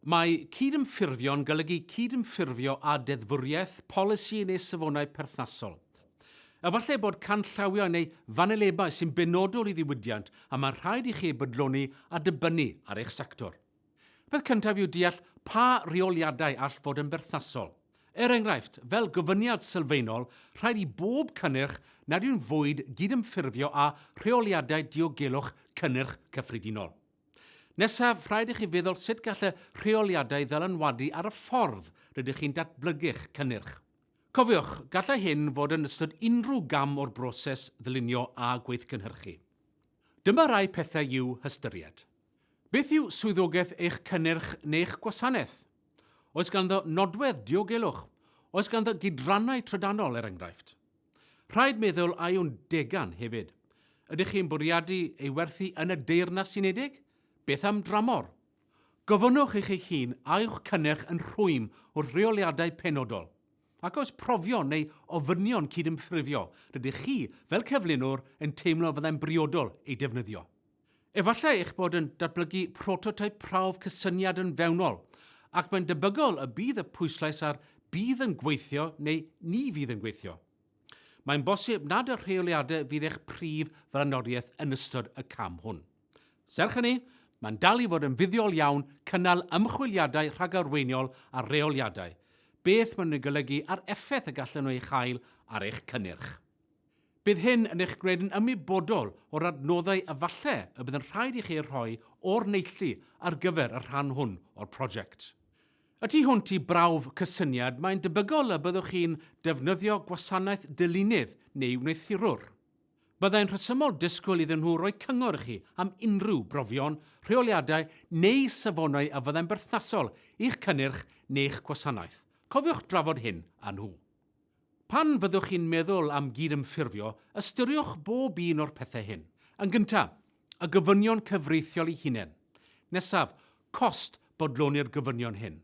Mae cydymffurfio'n golygu cydymffurfio â deddfwriaeth, polisi neu safonau perthnasol. Efallai bod canllawiau neu fanylebau sy'n benodol i ddiwydiant a mae'n rhaid i chi eu bodloni a dibynnu ar eich sector. Peth cyntaf yw deall pa reoliadau all fod yn berthnasol. Er enghraifft, fel gofyniad sylfaenol, rhaid i bob cynnyrch nad yw'n fwyd gydymffurfio â rheoliadau diogelwch cynnyrch cyffredinol. Nesaf, rhaid i chi feddwl sut gall y rheoliadau ddylanwadu ar y ffordd rydych chi'n datblygu'ch cynnyrch. Cofiwch, gallai hyn fod yn ystod unrhyw gam o'r broses ddylunio a gweithgynhyrchu. Dyma rai pethau i'w hystyried. Beth yw swyddogaeth eich cynnyrch neu'ch gwasanaeth? Oes ganddo nodwedd diogelwch? Oes ganddo gydrannau trydanol, er enghraifft? Rhaid meddwl a yw'n degan hefyd. Ydych chi'n bwriadu ei werthu yn y Deyrnas Unedig? Beth am dramor? Gofynnwch i chi hun a yw'ch cynnyrch yn rhwym wrth reoliadau penodol. Ac oes profion neu ofynion cydymffurfio rydych chi, fel cyflunwr, yn teimlo fyddai'n briodol eu defnyddio? Efallai eich bod yn datblygu prototeip prawf cysyniad yn fewnol, ac mae'n debygol y bydd y pwyslais ar bydd yn gweithio neu ni fydd yn gweithio. Mae'n bosib nad y rheoliadau fydd eich prif flaenoriaeth yn ystod y cam hwn. Serch hynny, mae'n dal i fod yn fuddiol iawn cynnal ymchwiliadau rhagarweiniol ar reoliadau, beth maen nhw'n ei golygu a'r effaith y gallan nhw ei chael ar eich cynnyrch. Bydd hyn yn eich gwneud yn ymwybodol o'r adnoddau a falle y bydd yn rhaid i chi eu rhoi o'r neilltu ar gyfer y rhan hwn o'r prosiect. Y tu hwnt i brawf cysyniad, mae'n debygol y byddwch chi'n defnyddio gwasanaeth dylunydd neu wneuthurwr. Byddai'n rhesymol disgwyl iddyn nhw roi cyngor i chi am unrhyw brofion, rheoliadau neu safonau a fyddai'n berthnasol i'ch cynnyrch neu'ch gwasanaeth. Cofiwch drafod hyn â nhw. Pan fyddwch chi'n meddwl am gydymffurfio, ystyriwch bob un o'r pethau hyn. Yn gyntaf, y gofynion cyfreithiol eu hunain. Nesaf, cost bodloni'r gofynion hyn,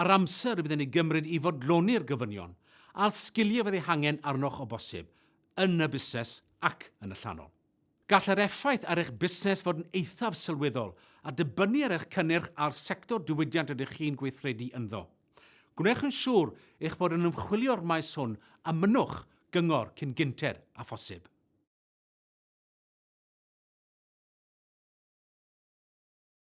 yr amser y bydd yn ei gymryd i fodloni'r gofynion, a'r sgiliau fydd eu hangen arnoch o bosib, yn y busnes ac yn y llanol. Gall yr effaith ar eich busnes fod yn eithaf sylweddol, a dibynnu ar eich cynnyrch a'r sector diwydiant rydych chi'n gweithredu ynddo. Gwnewch yn siŵr eich bod yn ymchwilio'r maes hwn a mynnwch gyngor cyn gynted â phosib.